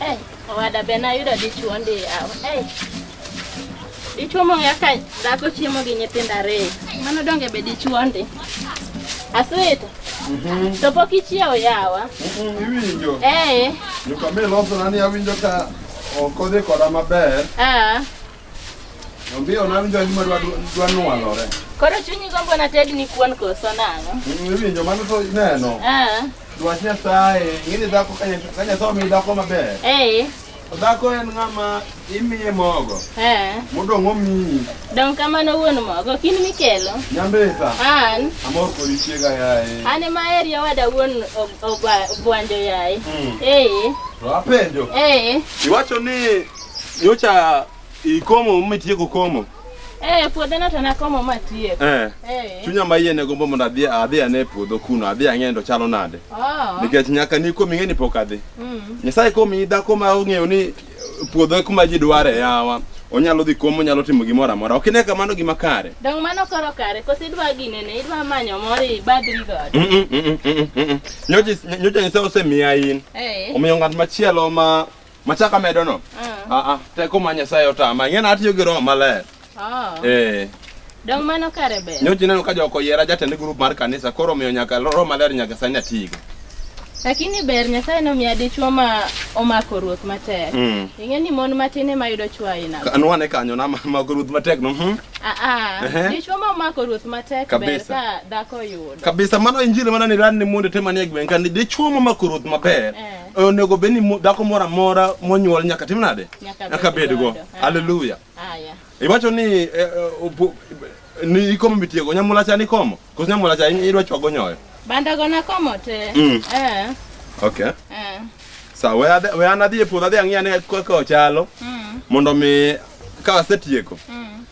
Hey, owada be nayudo dichuo ndi yawa. Hey. Dichuo mong'e ka dhako chiemo gi nyithindo ariyo. Mano donge be dichuo ndi. Aswita. Mhm. To pok ichiewo yawa. Mhm, Iwinjo. Eh. Nyuka mi losona ni awinjo ka ok odhi koda maber. Ah. Ombio na winjo gima dwa dwa nwalore. Koro chunyi gombo na ted ni kuon koso nang'o? Iwinjo mano to neno. Ah. Dwach Nyasaye, ng'ini dhako ka Nyasaye omi dhako maber. Eh. Dhako en ng'ama imiye mogo. Eh. Modong' omiyi. Dong' kamano wuon mogo, kin mikelo. Nyambesa. An. Amor kodi chiega yaye. An ema eri owada wuon obwanjo yaye. Mm. Eh. To apenjo. Eh. Iwacho ni Nyocha ikomo mitieko komo. Eh, puodho no to nakomo matieko. Eh. Eh. Chunya ma yie ne gombo mondo adhi adhi ane puodho kuno, adhi ang'e ndo chalo nade. Oh. Nikech nyaka ni komi ng'eni pok adhi. Mm. Nyasaye komi dhako ma ong'eyo ni puodho kuma ji dware yawa. Onyalo dhi komo, onyalo timo gimoro amora. Ok ine kamano gima kare. Dong mano koro kare, koso idwa gine ne, idwa manyo moro ibadri godo. Mm -mm, mm -mm, mm -mm. Nyocha nyocha Nyasaye osemiya in. Eh. Omiyo ng'at machielo ma Machak amedo no? Ah. Ah, ah, teko ma Nyasaye otama. Ing'e na atiyo gi roho maler. Oh. Eh. Dong mano kare ber. Nyocha ineno ka joko yiera jatend grup mar kanisa koro omiyo nyaka roho maler nyaka sani atigo. Lakini ber Nyasaye nomiya dichwo ma omako ruoth matek. Mm. Ing'e ni mon matin ema yudo chwo aina. go. Anwa ne kanyo na ma grup matek no. Mhm. Ah ah. Ehe. Dichwo ma omako ruoth matek ber Kabisa. ka dhako yudo. Kabisa mano injili mana ni ran ni monde tema ni egben kan dichwo ma makoro ruoth maber. Eh. onego bed ni dhako moro amora monyuol nyaka tim nade nyaka bedgo aleluya iwacho ni eh, eh, ni ikomo mitiego nyamula cha ni komo koso nyamula cha idwa chwago nyoyo banda gona komo te mm. eh. okay eh. sa we ade we ana dhi e puodho adhi ang'iya ne kaka ochalo mm. mondo mi ka asetieko mm.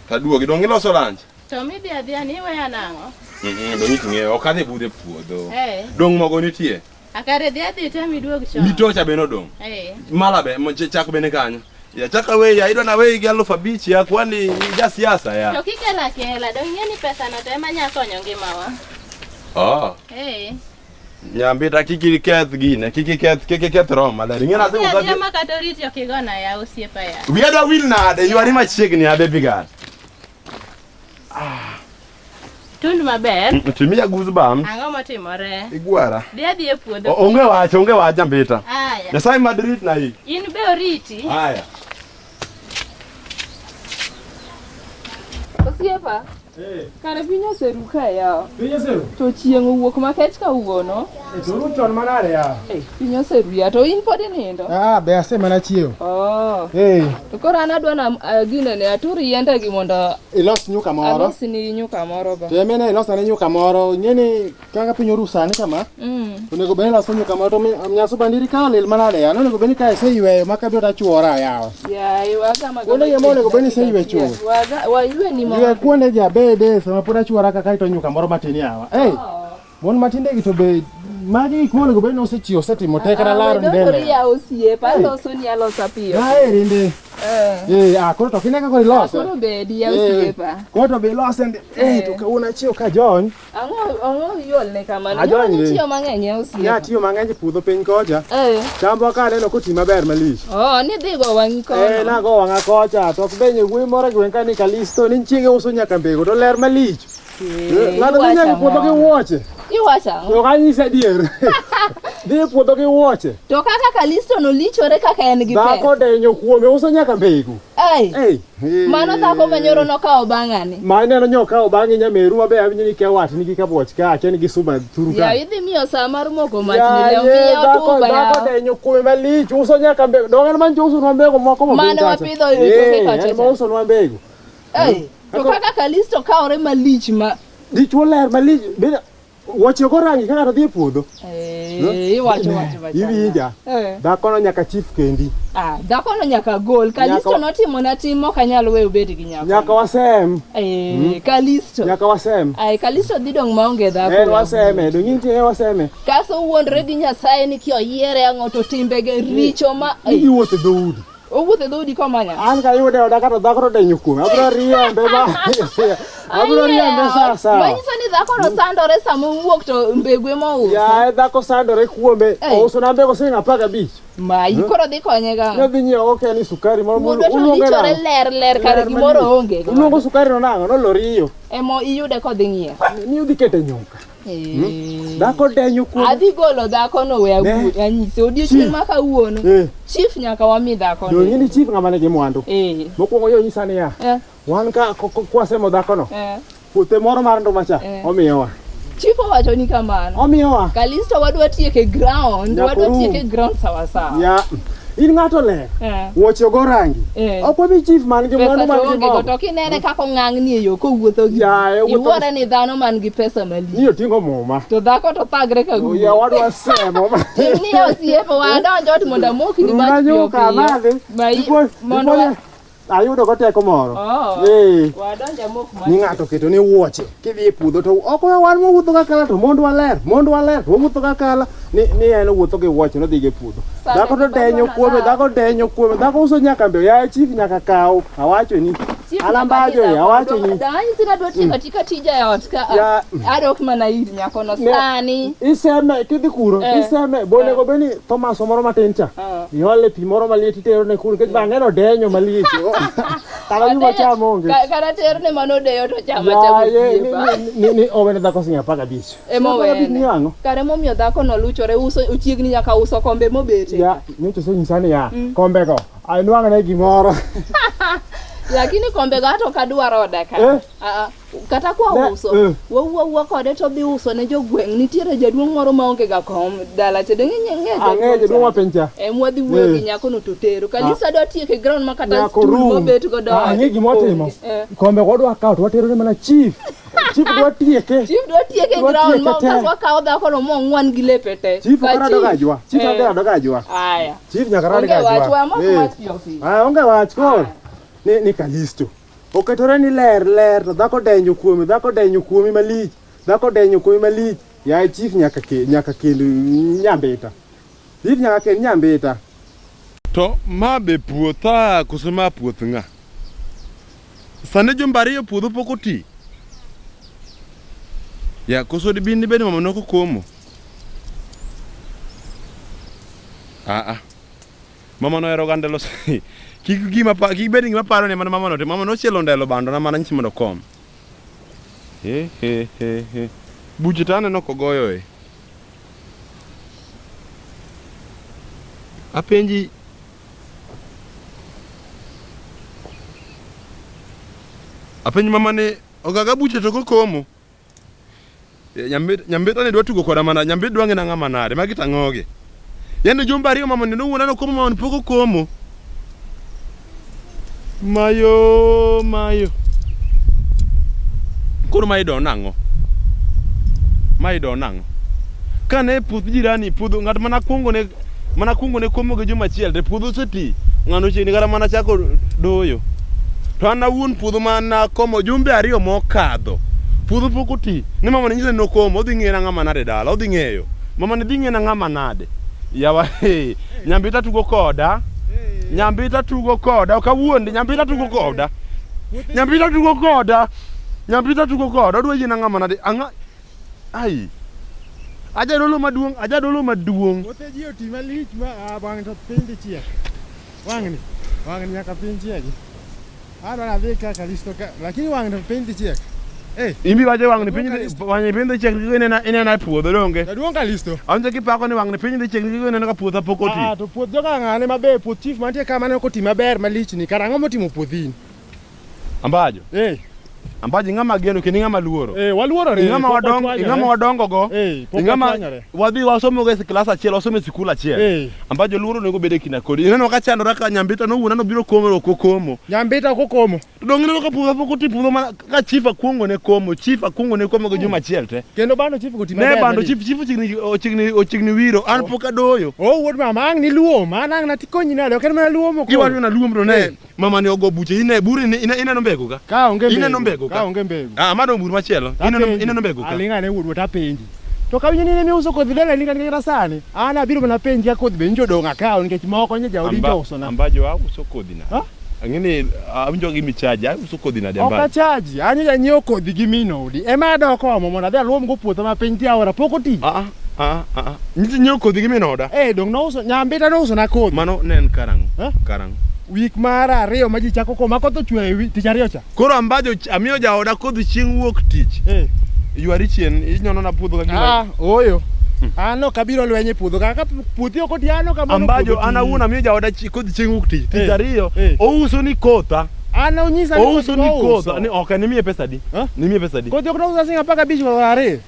taduogi dong iloso lanch to midhi adhiya ni iweya nang'o mm -hmm, dong ing'eyo ok adhi budhe puodho eh. dong mogo nitie Akare dhi adhi tami duog chon. Mitocha bende odong'. Eh. Mala be mo- chak bende kanyo. Ya chak away ya idwa na away gi aluf abich ya kwani ja siasa ya. To kikela kela dong' ing'e ni pesa no to ema nya konyo ngimawa. Oh. Eh. Nyambi ta kiki keth gine, kiki keth kiki keth rom maler. Ing'ena se Adhi adhi ukaje. ma kata oriti ok igona ya osiepa ya. Wiya da wil nade, ywari machiegni abe bigat. Ah. Tund maber. Mm, Timia goosebumps. Ang'o motimore? Igwara. Dhi adhi e puodho. Onge wach, onge wach ambita. Aya. Nyasaye madrit na hii. In be oriti. Aya. Osiepa. Hey. Kare piny oseru ka yawa. Piny oseru. To chieng' owuok makech kawuono. E to ru chon manade ya? Eh, piny oseruya to in pod inindo. Ah, be ase mana chiew. Oh. Eh. To koro an adwa na uh, gine ne atur yiende gi mondo ilos nyuka moro. Alos ni nyuka moro ba. Te mena ilos na nyuka moro. Ngeni kaka piny oru sani kama. Mm. Onego bani ilos nyuka moro to nyaso bandiri ka lil manade ya. Onego bani ka ise yweyo maka biro tachuora yawa. Ya, iwa kama. Kuonde ye mole go bani ise ywe chuo. Wa wa ywe ni moro. Ywe kuonde ja bede sama pura chuora kaka ito nyuka moro matini yawa. Eh. Hey. Oh. Mon matinde gi to be magi gik monego bed ni osechiwo osetimo te kata laro mbele. Oria osiepa aloso ni alosa piyo. Na eri ndi. Eh. Eh, ah koro to kine kaka iloso. Koro be di ya eh, osiepa. Koro to be iloso ndi. Eh, eh, to ka una chiwo ka jony. Ango ango yol ne kamano. Ajony ni. Tiyo mang'eny ya osiepa. Ya tiyo mang'eny e puodho piny kocha. Eh. Chambo ka neno koti maber malich. Oh, ni dhi go wang'i kono. Eh, na go wang'a kocha. To ok benye wuoyi moro gi wenka ni Kalisto ni chiege uso nyaka mbego to ler malich. Eh, ng'ato Iwacho nonyago puodho gi ang'o? wuoche Iwacho ang'o? to kanyisa adier dhi e puodho gi wuoche To kaka Kalisto nolichore kaka en gi dhako pesa. denyo kuome uso nyaka mbegu Ai, Ei, eh. mano dhako manyoro nokawo bang'ani. ma ineno nyokawo bang'e nyameru mabe awinjo ni kia watni gi kabuoch ka akia ni gi suma thuru ka Yaw idhi miyo saa mar moko mach ni Yaye, leo miyo dhako- tuba dhako yaw. denyo kuome malich uso nyaka mbegu donge en man jousonwa mbegu moko Mane mapiny kacha. wapidho e toke Eh, kacha en cha. ma usonwa mbegu Ei, to kaka Kalisto kawore malich ma Dichwo ler malich bende wuoche go rangi ka ng'ato dhi e puodho. Eh, iwacho wacho wacho. Iwinja. Eh. Dhakono nyaka chief kendi. Ah, dhakono nyaka gol. Kalisto Nyaka- notimo na tim ok anyal weyo bed gi nyako. Nyaka wasem. Eh, Kalisto. Nyaka wasem. Ai, Kalisto dhi dong maonge dhako. En waseme, dong in tiye waseme. Kaso wuondre gi Nyasaye ni kioyiere ang'o to timbege richo ma Ni giwuotho dhoudi. Owuotho e dhoodi komanya. An kayude oda kata dhako to denyo kuome. Abiro riembe ba. Abiro riembe sasa. Manyiso ni dhako no sandore sama owuok to mbegu ema ouso. Ya e dhako sandore kuome. Ouso na mbegu siling' apar gabich. Mayi hmm? koro dhi konye ga. Ne dhi nyiewo oke ni sukari moro moro. Uluongo na. Mudo ler ler kar gimoro onge. Uluongo sukari no nang'o? No loriyo. Emo iyude kodhi ng'iewo. Ni udhi kete nyuka. Hmm? Dhako denyo kuom. Adhi golo dhako no we awuo anyise odiochieng' ma kawuono. Eh. Chief nyaka wami dhako no. Dong'e ni chief ng'ama nigi mwandu. Eh. Mokwongo yo nyisa niya. Eh. Wan ka kwasemo dhako no. Puothe moro mar nduma cha omiyowa. Chief owacho ni kamano. Omiyowa. Kalisto wadwa tieke ground, wadwa tieke ground sawa sawa. Yeah. In ng'ato ler. Eh. Wuoche ogo rangi. Eh. Ok wabi chief man gi mwandu Pesa man to gi onge go to mama. kinene kaka ong'ang'ni e yo kowuotho gi Yaye, ji. wuotho- Iwuore ni dhano man gi pesa malich. Ni oting'o muma. To dhako to thagre ka guyo. Oya wadwa semo. Ni osiepo wadonjo ot mondo amokni mach Unanyuka piyo piyo. madhi. Mai- Ndipo- mondo ndipo- wa- ayudo go teko moro Oh. Eh, Wadonja mok ma. ni ng'ato keto ni wuoche kidhi e puodho to ok wan wawuotho ga kala to mond waler mond waler to wawuotho ga kala ni, ni en owuotho gi wuoche nodhi go e puodho Sani dhako to to denyo wadwaro kuome law. dhako denyo kuome dhako uso nyaka mbe yaye chief nyaka kaw awacho ni Chief alambajo nyaka ya awacho bidha ni mondo- Dawani sina dwa tiyo katika tija ya ot ka. Ya. Adok mana ir nyakono Ne- sani. iseme kidhi kuro Eh. iseme bonego beni thomas moro matin cha iole pi moro maliet itero ne kul nikech bang'eno denyo maliet kata yuma cham onge Ka- kata ter ne mano deyo to chama Ya, chama ye, ni- osiepa. ni- ni- ni owene dhako sinya apar gabich Ema Sinya apar gabich owene. ni ang'o kare momiyo dhako no luchore uso ochiegni nyaka uso kombe mobete ya nyocha osenyisa niya kombego anwang'ne gimoro lakini kombe go ato kadwar oda ka Eh. Ah, ah. kata kwa Ne- uso eh. wawuo awuo kode to dhi uso ne jogweng' nitiere jaduong' moro ma onge ga kom dala cha donge ng'e Ang'eyo jaduong' ma piny cha. em wadhi wuoyo Eh. gi nyako no to tero kalisa dwa tieke ground ma kata Nyako stool room. mobet go Ah, Ang'e gima watimo. Eh. Kombe wadwa kawo to watero ne mana chief. Chief dwa tieke. Chief dwa tieke Dwa ground tieke ma te. kaswa kawo dhako no mong'wan gi lepe te Chief Ka kara chief- doga jwa. Chief Eh. kara doga jwa. aya Chief nyaka radi onge ga wach jwa. wa moko Eh. wach Joffi. Ah, onge wach koro. Ni ni Kalisto. Oketore ni ler ler to dhako denyo kuome, dhako denyo kuome malich, dhako denyo kuome malich. Yaye chief nyaka ke, nyaka kendo nyambita. Chief nyaka kendo nyambita. To ma be puotha koso ma puoth ng'a? Sani jumba ariyo puodho pok oti. Ya koso dibin dibed mama noko komo. Ah ah. Mama nohero ga ndelo si. Kik gima pa, kik bed gima paro ne mana mama no, to mama nochielo ndelo bando na mana nyisi mondo kom. He he he he. Buche to aneno kogoyo e. Apenji Apenji mama ni ogaga buche to kokomo. Eh, Nyambit nyambit ne dwa tugo koda mana nyambit dwa ngina ngama nade magi tangogi. Yande jumba ariyo mama neno wuona no komo mama ni poko komo. Mayo mayo. Koro ma idon nango. Ma idon nango. Kane puth jirani puodho ng'at mana kuongo ne Mana kuongo ne komo gi juma achiel to puodho oseti. Ng'ano chiegni kata mana chako doyo. To an awuon puodho ma nakomo jumbe ariyo mokadho. Puodho pok oti. Ni mama ne nyisa ni nokomo, odhi ng'eyo na ng'ama nade dala, odhi ng'eyo. Mama ne dhi ng'eyo na ng'ama nade. Yawa, hey, nyambita tugo koda. Nyambita tugo koda, ok awuondi, nyambita tugo koda. Nyambita tugo koda. Nyambita tugo koda, odwa yie na ng'ama nade. Ang'a, Ai. Ajadolo maduong', ajadolo maduong'. Kothe ji oti malich ma a bang' to piny dhi chiek. Wang'ni, wang'ni nyaka piny chiegi. Adwa nadhi ka Kalisto ka, lakini wang'ni to piny dhi chiek. Eh, Imbi wacho wang'ni piny dhi- wang'ni piny dhi chiek nikech inena inena e puodho donge. jaduong' Kalisto. Awinjo kipako ni wang'ni piny dhi chiek nikech ineno ka puodha pok oti. Ah, to puoth joka ng'ane maber, puoth chief mantie ka maneno koti maber malichni, kara ang'o motimo puothini? Ambajo. Eh. Ambajo ing'ama geno kendo ing'ama luoro. Eh, waluorore. Ing'ama wadong, ing'ama wadongo go. Eh, ing'ama wadhi wasomo go e klas achiel, wasomo e sikul achiel. Eh. Ambajo luoro onego bede kina kodi. Ineno ka chandora ka nyambita no wuona no biro komo ko komo. Nyambita ko komo. To dong ineno ka puga poko tipuga mana ka chief akwongo ne komo, chief akwongo ne komo go juma achiel te. Kendo bando chief go timbe. Ne bando chief chief chigni ochigni ochigni wiro an oh. poka doyo. Oh wuod mama ang ni luo, mana ang na tikonyi nade, ok en mana luo moko. Iwa na luo mro ne. Eh. Mama ni ogo buche ine buri ni ine ineno mbegu ga. Ka onge mbegu. Ineno mbegu ka. Ka onge mbegu. Ah, mano bur machielo. Ineno ineno mbegu ka. Alinga ne wudu ta penji. To ka winyini ne uso kodhi dala ninga ninga sani. Ana biro na penji ya kodhi be njo donga ka nikech moko nje jaodi to uso na. Ambajo wa uso kodhi na. Ha? Angini awinjo gi michaji, awinjo uso kodhi na damba. Oka chaji, anyo ja nyiew kodhi gi minodi. Ema doko mo mona dhi alwom go puotho ma piny ti aora pok oti. Ah, ah. Ah, ah, ah. Nyithi nyiewo kodhi gi min oda. Eh, dong nouso nyambita nouso na kodhi. Mano ne en karang'o? Eh? Karang'o? Wik mar ariyo ma ji chako koma koth ochwe e wi tich ariyo cha. Koro ambajo ch- amiyo jaoda kodhi chieng' wuok tich. Eh. Ywari chien inyono na puodho ka gima. Ah, oyo. An ok abiro lweny e puodho kaka puothi ok oti an ok amoro Ambajo puodho an ti. awuon amiyo jaoda chi- kodhi chieng' wuok tich. Tich Eh, ariyo eh. ouso ni kotha. An onyisa ni Ouso kodhi ni ouso. kotha. Ni ok nimiye pesa di. Eh? Nimiye pesa di. Kodhi ok nouso sing apaka bich kod ariyo.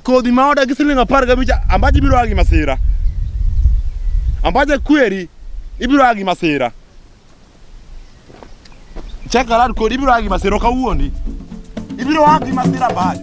Kodhi ma odagi siling apar gabich ambaje biro a gi masira. Ambaje kweri ibiro a gi masira. Cheka lad kodi ibiro a gi masira ok awuondi. Ibiro a gi masira ambaje.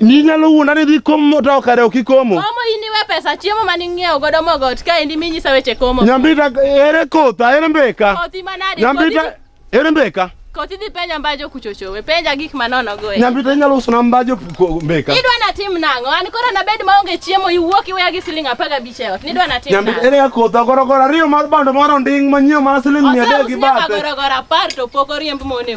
Ni nyalo wuonda ni dhi komo to kare ok ikomo. Komo in iwe pesa chiemo mane ing'iewo godo mogo ot ka endi minyisa weche komo. Nyambita ere kotha ere mbeka. Kothi manade. Nyambita ere mbeka. Kothi dhi penja mbajo kuchochowe, penja gik manono go. Nyambita inyalo uso na mbajo mbeka. Idwa na tim nang'o? An koro na bed maonge chiemo iwuok iweya gi siling' apar gabich e ot. Nidwa na tim nang'o? Nyambita ere kotha gorogoro ariyo mar bando moro nding' manyiewo mana siling' mia adek gi bathe. Oseusi gorogoro apar to pok oriemb mone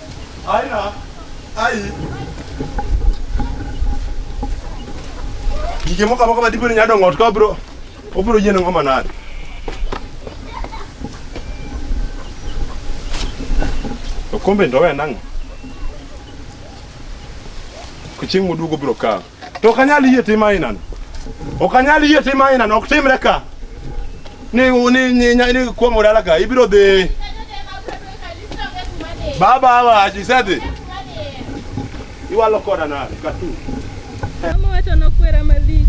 Aina ai gige moko amoko madipo ni nyadongo ot ka bro obiro yiene ng'o manade okombe ndo we nang'o kochieng' moduogo biro kawo To ok anyal yie tim ainano. Ok anyal yie tim ainano, ok timre ka. Ni ni ni, ni, ni kuom dala ka ibiro dhi. Baba hawa ajisedhi. Iwalo koda na katu. Mama wacho nokwera malich.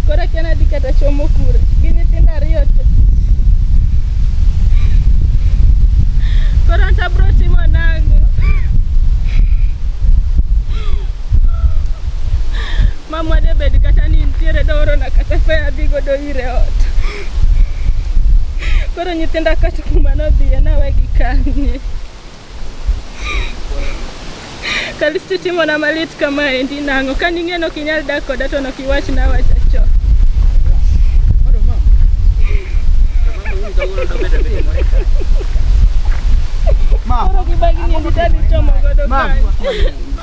Koro akia nadhi kata chomo kura. Gi nyithindo ariyo to. Koro anto abiro timo nang'o? Mamwa de bed kata ni nitiere doorona kata fea adhi godo ire ot. Koro nyithinda kata kuma nodhiye nawegi kanye. Kalisti timona malit kama endi nang'o ka ning'e nok inyal dak koda to nok iwach nawacha cho. Koro gibagi ni nditadi chomo godo kanye.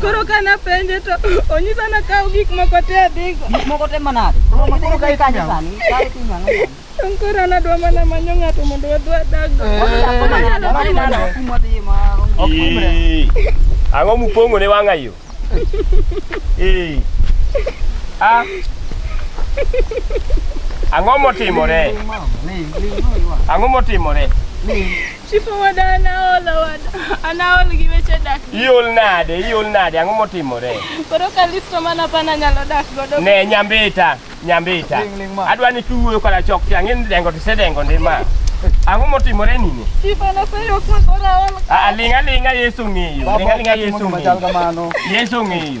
Koro ka napenje to onyisa nakaw gik moko te adhigo. Gik moko te manade. Koro ka ikanya sani. Kae timo ang'o sani? An koro an adwa mana manyo ng'ato mondo wadhi wadaggo. Ee, Ang'o mupong'o ne wang'a yo? Ee. Ah. Ang'o motimore? Ang'o motimore? Chief Omoda anaol Omoda. Anaol gi weche dak. Iol nade? Iol nade? Ang'o motimore? Koro ka listo mana pana nyalo dak godo. Ne nyambita, nyambita. Adwa ni kiwuoyo koda chok ti ang'e ni dengo to isedengo ndi ma. Ang'o motimore nini? Chief anaseyo kuma koro aol. Ah, ah, ling' aling'a Yesu ng'eyo. Ling' aling'a Yesu ng'eyo. Yesu ng'eyo.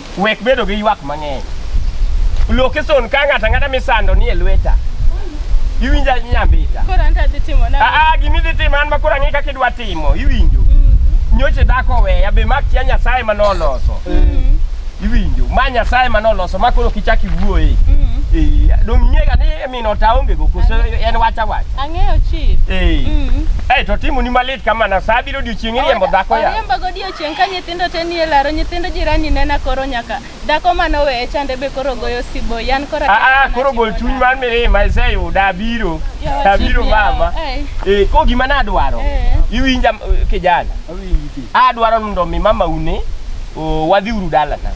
Wek bedo gi ywak mang'eny. Loki son ka ng'ata ng'ata misando ni e lweta. Iwinja nyambita. Koro an tadhi timo na. Ah ah gini dhi timo an makora ng'i kaka idwa timo. Iwinjo. Mm. Nyoche dako weya be mak kia Nyasaye ma noloso. Mm. Iwinjo. Ma Nyasaye ma noloso ma koro kichaki wuoye. Mm. Eh, dong' ing'ega ni mino ta onge go koso en wacha wacha. Ang'eyo chief. Eh. Mm. Eh, to timo ni malit kamana sa biro odiochieng' iriembo dhako ya. Oriemba godiochieng' ka nyithi Nyithindo te nie laro, nyithind jirani nena koro nyaka. Dhako mane oweye chande be koro goyo sibo. Yan kora. Ah ah, koro gol chuny mar mirima iseyuda abiro. Yawa, Abiro chief, yawa, mama. ai. Eh, ko gima nadwaro. Eh. Iwinja eh, kijana. Awinji ti. adwaro mondo mi mama une o, wadhi uru dalana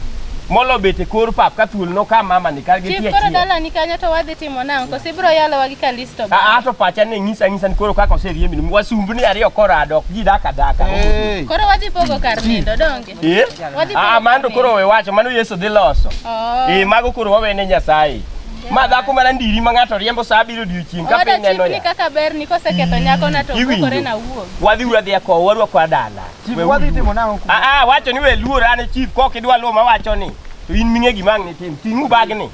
molo bet e kor pap ka thuol no ka mama ni kar gi Chief tie koro chien. dalani kanyo to wadhi timo nang'o? Koso ibiro yalowa gi kalisi? Ato pacha ne ng'isa ng'isa ni koro kaka oserie minu wasumbu ni ariyo korado ok ji daka daka. Hey. Koro wadhi pogo kar nindo donge. Eh? Wadhi pogo Ah, mano to koro we wacho mano Yesu dhi loso. Oh. Eh, mago koro wawene Nyasaye. Ma dhako mana ndiri ma ng'ato riembo saa abiriyo odiechieng' ka Oda piny neno chifni ya. kaka ber ni koseketho nyako na to Iwinjo. okore na wuon. Wadhi uru adhiya kowo warwako adala. Chief, We wadhi uru. timo nang'o kuno? Ah, ah, wacho ni we luor an e chief kok idwa luwo ma wacho ni. To in ming'e gima ang' nitim. Ting'u bagni.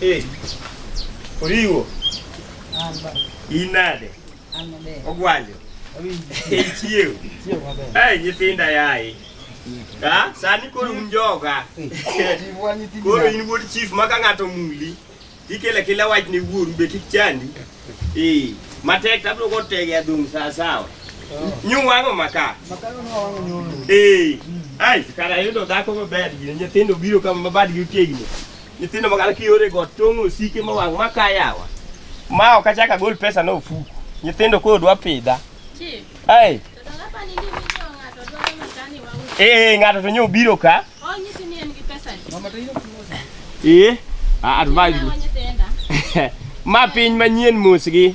Eh. Oriwo. Inade. Ogwanjo. Chiew. Eh, nyithinda yaye. Ah, sani koro un joga. Koro in wuod chief ma ka ng'ato muli. Ikele kila wach ne wuoru be kik chandi. Eh, matek tabro go tege adung sawa sawa. Nyu wango maka. Maka no wango nyu. Eh. Ai, kara yudo dhako maber gi nyithindo biro kama mabadgi otegno. Nyithindo magala kiyore go tong' osike ma wang' maka yawa. Ma ok achak agol pesa no ofuku. Nyithindo koro dwa pidha. Ai. Eh, ng'ato to nyo biro ka. Ee, advise me. Ma piny manyien mos gi.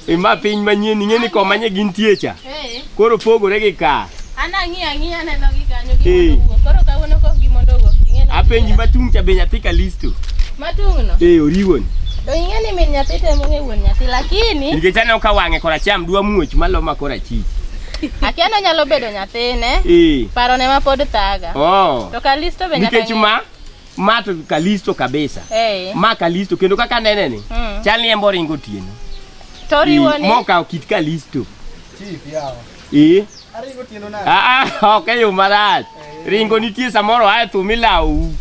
E ma piny manyien ing'e ni koma nye gintie cha. Koro pogore gi ka. Ee. Apenji matung' cha be nyathi Kalisto. Matung'no. Ee, oriwoni. To ing'e ni min nyathi temo ng'e wuon nyathi lakini Nikech aneno ka wang'e koracham dwa muoch maloma korachich. Akia nonyalo bedo nyathine. Eh. Paro ne ma pod thaga. Oh. To Kalisto be nyaka. Nikech ma ma to Kalisto kabisa. Eh. Ma Kalisto kendo kaka nene ni. Mm. Chal ni embo ringo tieno. To riwo eh, ni. Moka kit Kalisto. Chief yawa. Eh. Aringo tieno na. Ah ah, okay, yo marach. Ringo nitie samoro ae thumi lawu.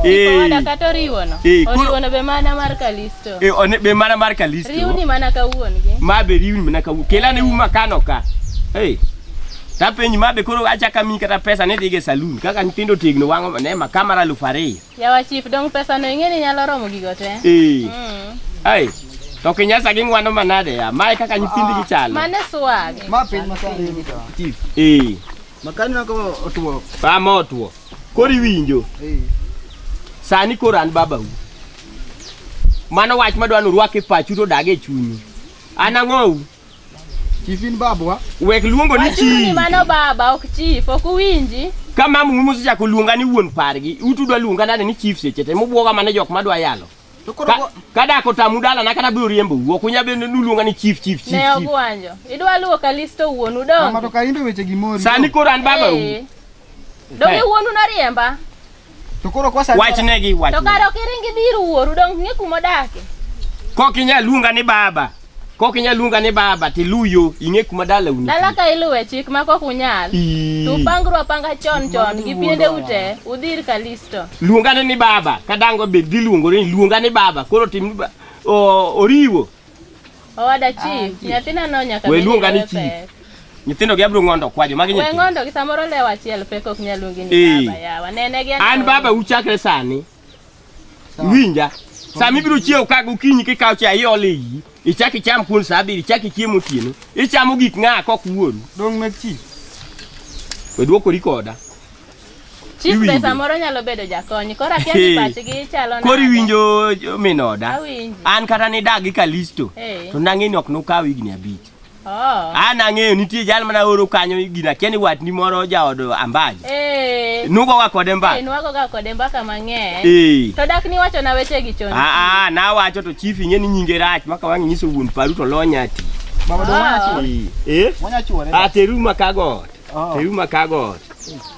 Owada kata oriwono. Eh, koro- Oriwono be mana mar Kalisto. E one be mana mar Kalisto. Riwni mana ka wuon-gi. Ma be riwni mana ka wuon. Kelane uma kano ka. Hey. Tapenji ma be koro achaka mi kata pesa ne dhige saloon kaka nyithindo tegno wang'o ne ma kamera aluf ariyo. Yawa chief dong pesa no ing'e ni nyalo romo gigo te. Eh. Mm. Hey. To kinyasa gi ng'wano manade ya. Mae kaka nyithindgi chalo. Mane swag. Ma piny masani. Chief. Eh. Makani nako otuo. Pama otuo. Koro iwinjo. Eh. Sani koro an babau. Mano wach madwa ni urwak e pachu to dag e chunyu. An ang'ou. Chief in babwa. Wek luongo ni chief. Mano baba ok chief, ok uwinji. Ka mamu musechako luonga ni wuon pargi, utudwa luonga nade ni chief seche te mubwoga mana jok madwa yalo. To koro Ka- go- kadak otamu dala na kata biro riembo wuok unya bende nuluonga ni chief chief chief Ne chief. ogwanjo. Idwa luwo Kalisto wuonu Mama to donge? ka imbe weche gimori. sani koro an baba Eh. Donge Eh. wuonu noriemba? To koro kwa sani. wachnegi To wachnegi kare ok iringi dhi ir wuoru donge ing'e kuma odake? kok inya luonga ni baba Kok inyal luonga ni baba to iluw yo ing'e kuma dala uni. Dala ka iluwe chik ma kok unyal. To upangru apanga chon chon gi piende ute udhi ir Kalisto. Luongane ni baba ka dango be dhi luongore ni luonga ni baba koro tim oriwo. Owada chief, ah, nyathina no nyaka we luonga ni chief. Nyithindo gi abro ngondo kwajo magi nyithindo. We ngondo gi samoro lewa achiel pek ok nyal luongi ni baba yawa. Nene gi an baba uchakre sani. Winja. Sama ibiro chiew ka gokinyi kikawo cha iole iyi. Ichak icham kuon sa abiriyo, ichak ichiemo otieno. Ichamo gik ng'a kok wuoru. Dong' mek chi. We dwokori koda. Chief Iwinjo. be samoro nyalo bedo jakony. Koro akia ni pachgi chalo nade. Koro iwinjo jo- min oda. Awinji. An kata nidagi Kalisto. Eh. To nang'e ni ok nokaw higni abich. Oh. An ang'eyo nitie jal mana oro kanyo gina kia ni watni moro jaod ambaji. Eh. Nugoga kode mbaka. Eh, nugoga kode mbaka mang'eny. Eh. To dak niwacho na weche gi chon. Ah ah, nawacho to chief ing'e ni nyinge rach maka wang' nyiso wuon paru to lonya ti. Baba do wacho. Eh. Wanya chuore. Ah, teru makagot. Oh. Teru makagot.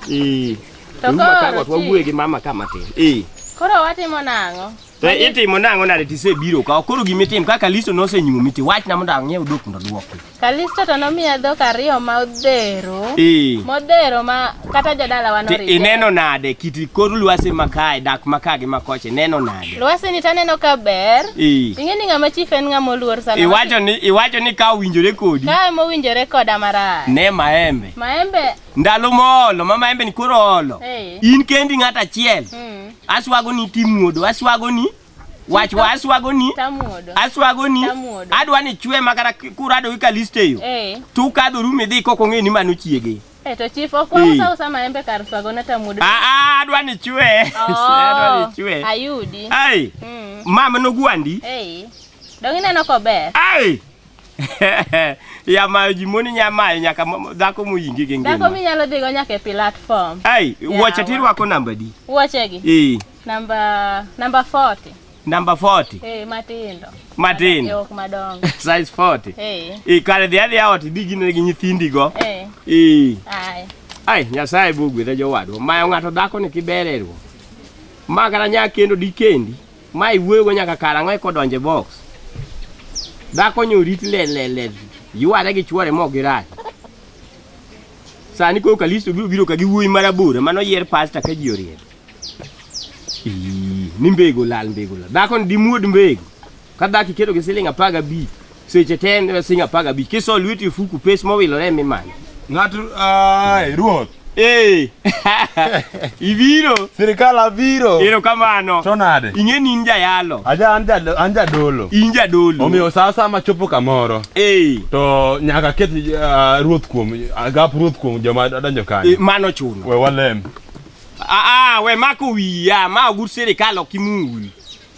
Eh. Teru makagot wawuoye gi mama kama tin. Eh. Koro watimo nang'o? To itimo nang'o nade tisebiro ka koro gima itim kaka Kalisto nosenyumi ti wachna mondo ang'iew dok mondo duoki. Kalisto to nomiya dhok ariyo ma odhero. Ee. Modhero ma kata jodala wan orite. Ineno nade kiti kor lwasi makae dak makae gi makoche neno nade? Lwasi ni taneno ka ber. Ee. Ing'e ni ng'ama chief en ng'ama oluor sana. Iwacho ni iwacho ni ka owinjore kodi. Ka ema owinjore koda marach. Ne maembe. Maembe ndalo moolo ma maembe ni koro oolo Eh. in kendi ng'at achiel Mm. aswago ni timuodo aswago ni wach wa aswago ni Tamuodo. aswago ni Tamuodo. adwa ni chwe ma kata kurado gi kaliste yo Eh. tukadho rum idhi kok ong'e ni mano chiege Eh, to chief ok wausa usa maembe kar swago na tamuodo. Ah, ah, adwa ni chwe adwa ni Oh. chwe Ayudi. ai Mm. mama nogwandi Eh. Dong ineno kober. ai ya mayo ji moni nya mayo nyaka mo- dhako moyingi gi Dhako ngima minyalo dhigo nyaka e platform. ai Yawa. wuoche tirwako namba di Wuochegi. e Namba namba 40. namba 40 Eh matindo. Matindo. Jok madongo. size 40 Eh. e kare dhi adhiya ot idhi gine gi nyithindigo Eh. e Ai. ai nyasaye bogwedha jowadwa mayo ng'ato dhako ni kibererwo ma kata nya kendo dikendi Ma iwuoyogo nyaka kar ang'o eka odonj e box? Dhako nyo rit le le le yware gi chwore ma ok girach. Sani koro Kalisto biro biro ka gi wuoyi marabora mano yer pasta ka ji oriek. Ii, Ni mbego lal mbego lal. Dhako ni dimuod mbego. Ka dhako iketo gi siling apar gabich. Seche te en e siling' apar gabich. Kiso lweti e fuku pes mowilore ema imanyo. Ng'ato ai ruoth. Ee. Ibiro. Sirikal abiro. Ero kamano. To nade? Ing'e ni in jayalo. Aja an jalo an jadolo. In jadolo. Omiyo sa sa ma chopo kamoro. Ee. To nyaka ket uh, ruoth kuom agap ruoth kuom joma donjo kanyo. E, mano chuno. We walem. Aa, ah, ah, we mako wiya, ma ogur sirikal ok imul.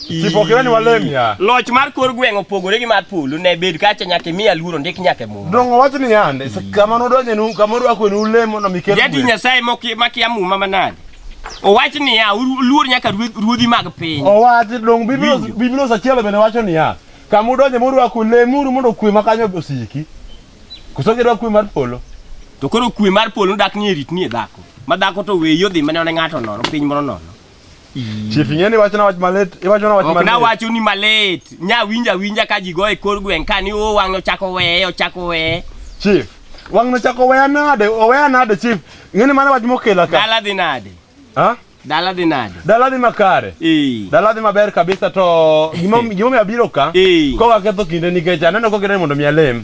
Kipokirani walemia. Loch mar kor gweng' opogore gi mar polo ne bed kacha nyaka imiya luoro ndik nyaka e muma. Dongo wach ni yande kama nodonje nu kama odwako e nu lemo no mikel. Jadi Nyasaye moki makia muma manade. Owach ni ya luor nyaka ruodhi mag piny. Owach dong Biblia Biblia sachielo bende wacho ni ya kama udonje murwako lemuru mondo kwe makanyo osiki. Koso gidwa kwe mar polo. To koro kwe mar polo dak ni e rit ni e dhako. Ma dhako to weyo dhi mane one ng'ato nono piny moro nono. Chief ing'eni wachna wach malit, iwachona wach malit. Ok na wacho ni malit. Nya winja winja ka ji go e kor gweng' ka ni o oh, wang'o chako weye, ochako weye. Chief, wang'no chako weya nade? Oweya nade chief? Ng'eni mano wach mokela ka. Dala dhi nade? Ha? Dala dhi nade? Dala dhi makare. Eh. Dala dhi maber kabisa to gimo gimo mi abiro ka. E. Ko ka ketho kinde nikech aneno ko kire mondo mi alem.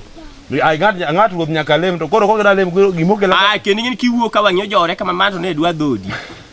Ai ngat ngat ruoth nyaka lem to koro ko kire lem gimo kela. Ah, kendi ng'eni kiwuo ka wang'yo jore kama manto ne dwa dhodi.